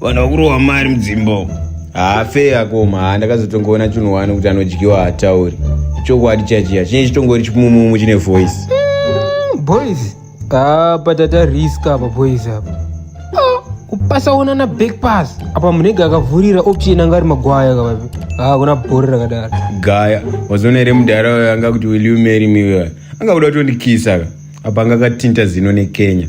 vanhu vakurohwa mari mudzimbo hafe yakoma haa ndakazotongoona chinhu wani kuti anodyiwa hatauri chokwadi chachiya chinye chitongori chipumumumu chine voice mm, boys apa tata risk apa boys apa ah, kupasaona na back pass apa munenge akavhurira option anga ari magwaya kavapi haa ah, kuna bhori rakadaro gaya wazoona here mudhara uyo anga kuti will you marry me uyo anga kuda kutondikisa ka apa anga akatinta zino nekenya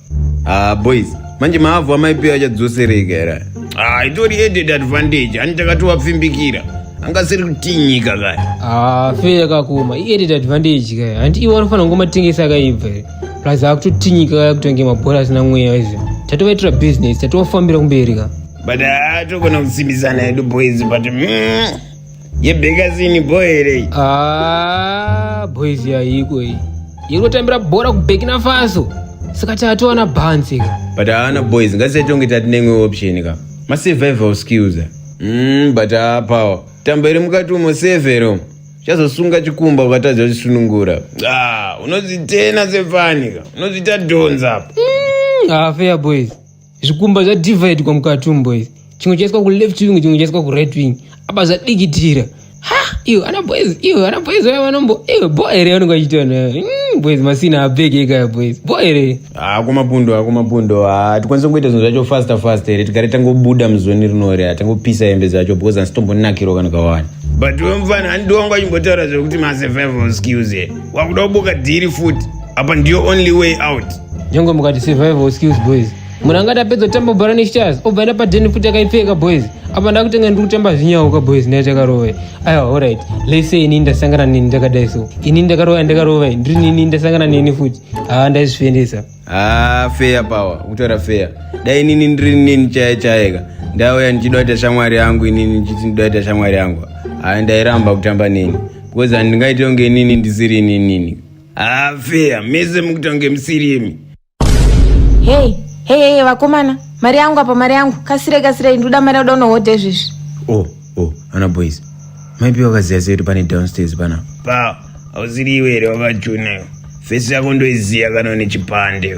Ah, boys manje maavhu amaipiwa achadzosereka here ah, itori added advantage ani takatowapfimbikira angasiri kutinyika kaya ah, fe yakakoma iadded advantage kaya handi iwe anofanira kungomatengesa akaibva here plus akutotinyika kaya kutonge mabhora asina mweya izvo tatovaitira business tatovafambira kumberi ka but atogona ah, kusimbisana hedu boys but mm. yebhekazini boy here iyi ah, boys yaiko iyi iri kutambira bhora kubhekina faso saka tatowana bhanzi ka but haana boys ngatisatonge tati neimwe option ka masurvival skills mm, but haapawa tamba iri mukati umo severo chazosunga chikumba ukatadza kuchisunungura ah, unozvitena sefani ka unozviita dhonza apa mm, hafeya boys zvikumba zvadividwa mukatumbo izvi chimwe chaiswa kuleft wing chimwe chaiswa kuright wing apa zvadikitira ha iyo ana boys iyo ana boys vaya vanombo iyo bo here vanenge vachiita nayo mm, boys masina abheke ikaya boys bo here hako mapundo hako mapundo ha tikwanise kungoita zvinhu zvacho faster faster here tigare tangobuda muzoni rinori ha tangopisa hembe dzacho because handitombonakirwa kana kawani but wemufana handiwangu achimbotaura zvekuti masurvival skills here wakuda kubuka dhiri futi apa ndiyo only way out nyangwe mukati survival skills boys munhu angati apedza kutamba bhora nestars obva enda padheni futi akaipfeka boys apa ndakutenga ndiri kutamba zvinyauka boys naye takarove aiwa allright lese ini ndasangana neni ndakadai so ini ndakarova ndakarovai ndiri nini ndasangana neni futi haa ndaizvifendesa haa feya pawa kutaura feya dai inini ndiri nini chaye chayeka ndauya ndichida kuita shamwari yangu inini ndichiti ndida kuita shamwari yangu haa ndairamba kutamba neni because handingaite kunge inini ndisiri ininini Ah, fair. Mese mukutange musirimi. Hey, hey, hey, vakomana. Mari yangu apa, mari yangu. Kasire, kasire, nduda mari yoda unohodha izvezvi. Oh, oh, ana boys. Maipi wakaziya sei kuti pane downstairs pana? Pa, hausiri iwe here wakachuna. Face yako ndoiziya kana une chipande.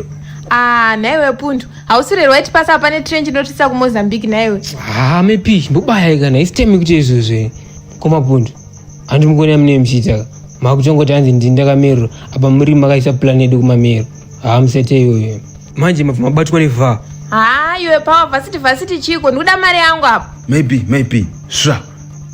Ah, naiwe pundu. Hausiri right pass apa ne train chinotisa ku Mozambique naiwe. Ah, mepi, ndobaya kana. Isitemi kuti izvezvi. Koma pundu. Hanti mukoni amune mchita makuchongoti hanzi ndini ndakamerura apa muri makaisa plan yedu kumamero haa musete iyoyo manje mabva mabatwa nevhaa haa iwe pawa vhasiti vhasiti chiko ndikuda mari yangu apo maybe maybe sva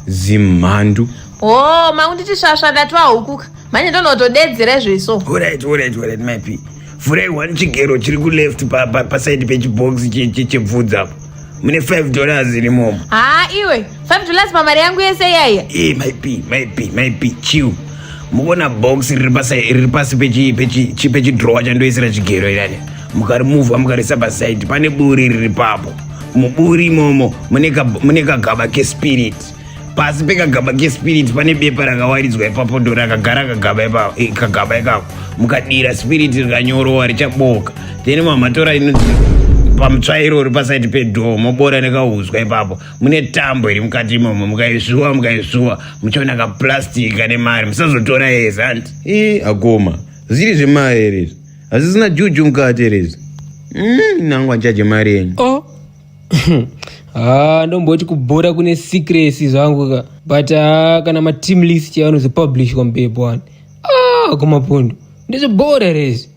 zimhandu hoo makunditi svasva ndati wahukuka manje ndonotodedzera izvoiso orit orit orit maybe vhurai one chigero chiri kuleft pasaidi pechibox chebvudzi apo mune 5 dollars irimomo haa iwe 5 dollars pamari yangu yese iyaiya e myp myp myp chiu mukuona box riri pasi riri pasi pechidrowa chandoisira chigero irani mukarimuvha mukarisa pasaidi pane buri riri papo muburi imomo mune kagaba kespirit pasi pekagaba kespiriti pane bepa rakawaridzwa ipapo ndo rakagara kagaba ipapo eh, kagaba ikako mukadira spiriti rikanyorova richaboka then mamatora inoti pamutsvairo uri pasaiti pedhoo mobora nekauzwa ipapo mune tambo iri mukati imomo mukaisvuwa mukaisvuwa muchaona kaplastic kane mari musazotora yese hanti i akoma zviri zvemari here izvi hazvisina juju mukati here izvi Mm, nangu anchaje mari yenyu oh. haa ah, ndomboti kubhora kune secrecy zvangu ka but haa ah, kana mateam list yavanozopublish kwambepo wani aa ah, kumapundu ndizvibhora rezi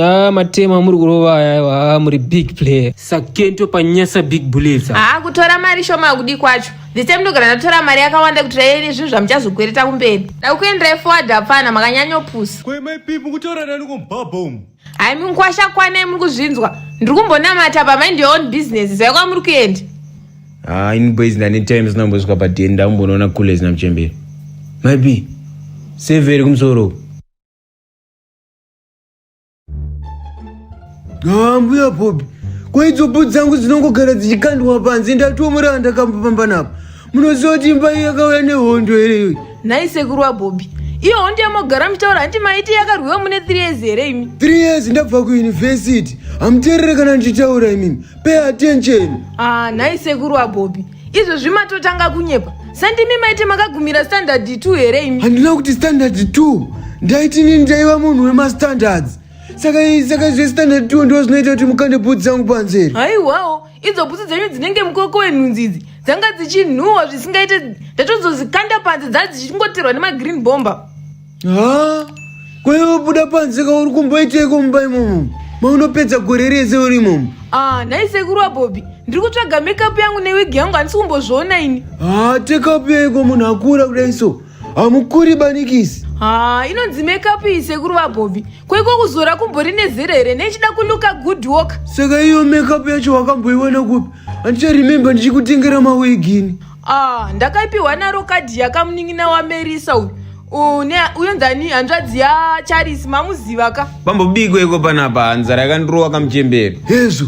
Ah, matema amuri kurova aya ah, muri big player sakento panyasa big bullets ah kutora mari shoma kudi kwacho this time ndogara ndatora mari yakawanda kuti rayeni zvinhu zvamuchazokwereta kumberi dakuenderai forward hapana makanyanyopusa kwemaipipu kutora nani kumbabha umu Hai munkwasha kwanai muri kuzvinzwa. Ndiri kumbonamata pa mind your own business. Zai kwamuri kuenda. Ah, in boys ndane times nambosvika pa den ndambonoona coolers na mchembere. Maybe severe kumsoro. Ah, mbuya Bobby. Kwa idzo bhutsu dzangu dzinongogara dzichikandwa panze ndatoomora ndakambopamba napo. munoziva kuti imba iyi yakauya nehondo here iyoyi nhai sekuru wabhobhi iyo hondo yamogara muchitaura hanti maiti yakarwiwa mune 3 years here imi 3 years ndabva kuyunivhesiti hamuteerere kana ndichitaura imimi pay attention ah nhai sekuru wabhobhi izvezvi matotanga kunyepa sandimi maiti makagumira standard 2 here imi handina kuti standard 2 ndaiti nini ndaiva munhu wemastandards saka saka zvestandard 2 ndo zvinoita kuti mukande bhudzi dzangu panzeri haiwawo idzo bhutsu dzenyu dzinenge mukoko wenhunzi idzi dzanga dzichinhuhwa zvisingaite ndatozozikanda panze dzaa dzichingoterwa nemagreen bomba ha kwaiwabuda panze ka uri kumboiteiko mumba imomo maunopedza gore rese uri imomo ah nhai sekuru wabobi ndiri kutsvaga makeup yangu newigi yangu handisi kumbozviona ini ha tekapu yaiko munhu akura kudai so hamukuri banikisi ha inonzi makeup iyi sekuru vabobi kweko kuzora kumbori nezera here nechida kuluka good work saka iyo makeup yacho wakamboiwana kupi handicharemembe ndichikutengera mawegini ah ndakaipiwa naro kadhi yakamunin'ina wamerisa uyu une uyo ndani hanzvadzi yacharisi mamuziva ka pambobigwa iko panapa nzara yakandirova kamuchembere hezvo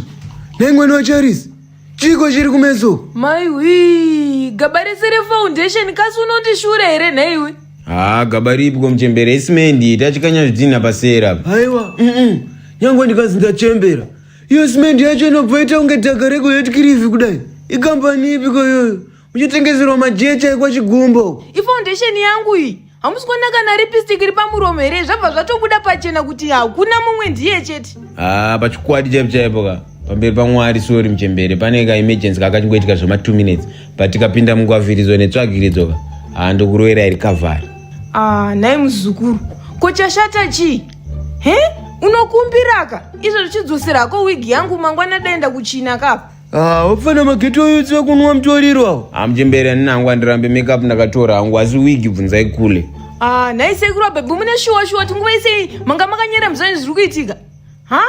naimwana wacharisi Chiko chiri kumeso. Mai wii, gaba rese refoundation kasi unoti shure here nhaiwe? Haa gaba ripi komuchembera isimendi tachikanya zvidhinha pasera. Haiwa, mm nyangwe ndikazi ndachembera. Iyo simendi yacho inobva ita kunge dhaga rekuhetkirivi kudai. Ikambani ipi koyoyo? uchitengeserwa majecha kwachigumbo ifoundation yangu iyi hamusi kuona kana lipstick iri pamuromo here zvabva zvatobuda pachena kuti hakuna mumwe ndiye chete haa pachikwadi chaipo chaipo ka pamberi pamwari sori muchembere pane ka emergency kakachingoitika zvema two minutes but tikapinda mungwavhiridzo netsvagiridzo ka haa ndokuroera iri kavhari ah nhai muzukuru ko chashata chii he unokumbiraka izvo zvichidzosera hako wigi yangu mangwana daenda kuchina kapa Ah, wapfana mageti oyudzi wekunwa mutoriro awo amuchembere ani nangu andirambe makeup ndakatora hangu asi wigi bvunzai kule Ah, nhai sekuru abhebhi mune shuwa shuwa kuti nguva isei manga makanyera muzvani zviri kuitika ha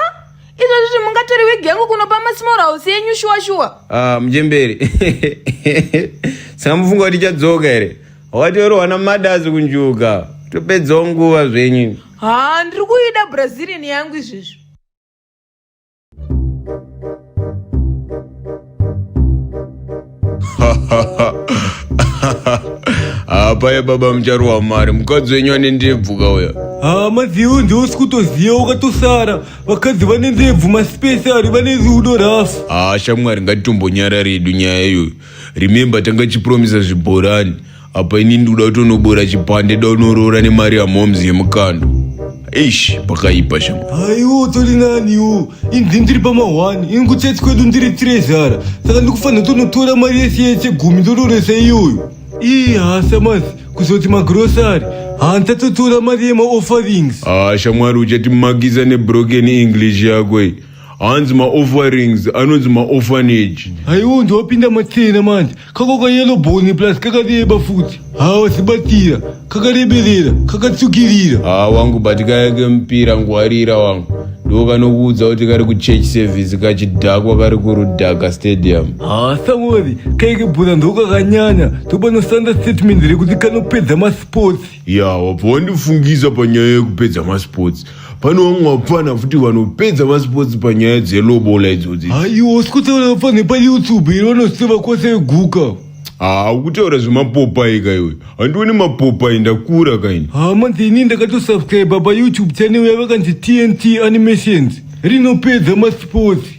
izvozvo zvi mungatori wigi yangu kunopa masmall house yenyu shuwa shuwa Ah, muchembere saka mufunga kuti ichadzoka here wakatorohwa namadazi kunjuka topedzawo nguva zvenyu ha ndiri kuida brazilian yangu izvezvi hapa ye baba muchari wa mari mukadzi wenyu ane ndebvu kauya hama zeu ndeusi kutoziva wakatosara vakadzi vane ndebvu masipesari vane rudo rafu haa shamwari ngatitombo nyara redu nyaya iyoyo remember tanga tichipromisa zvibhorani apa ini ndikuda kutonobora chipande daunoroora nemari yamoms yemukando eish pakaipa shama aiwo utori naniwo inzi ndiri pamahwani ini kutsatsi kwedu ndiri tirezara saka ndikufanira tonotora mari yese yese gumi ndororesa iyoyo ii hasa masi kuzoti magrosari handsatotora mari yemaofferings ah shamwari uchatimakisa nebroken english yako iyi hanzi maofferings anonzi maorphanage aiwo ndiwapinda matsena manje kako kayelo boni plus kakareba futi hawa sibatira kakareberera kakatsukirira haa wangu but kaya kemupira ngwarira wangu ndo kanokuudza kuti kari kuchurch service kachidhakwa kari kurudhaka stadium haa samori kaike bhura ndokakanyanya tobanosanda statement rekuti kanopedza masports ya wabva wandifungisa panyaya yekupedza masports pane vamwe vapfana futi vanopedza masports panyaya dzelobola idzodzi aiwa sikutaura vapfana payoutube iri vanoseva kwose veguka haa ukutaura zvemapopai ka iwe handioni mapopai ndakura kaini haa manzi ini ndakatosubscriba payoutube channel yavo kanzi tnt animations rinopedza masports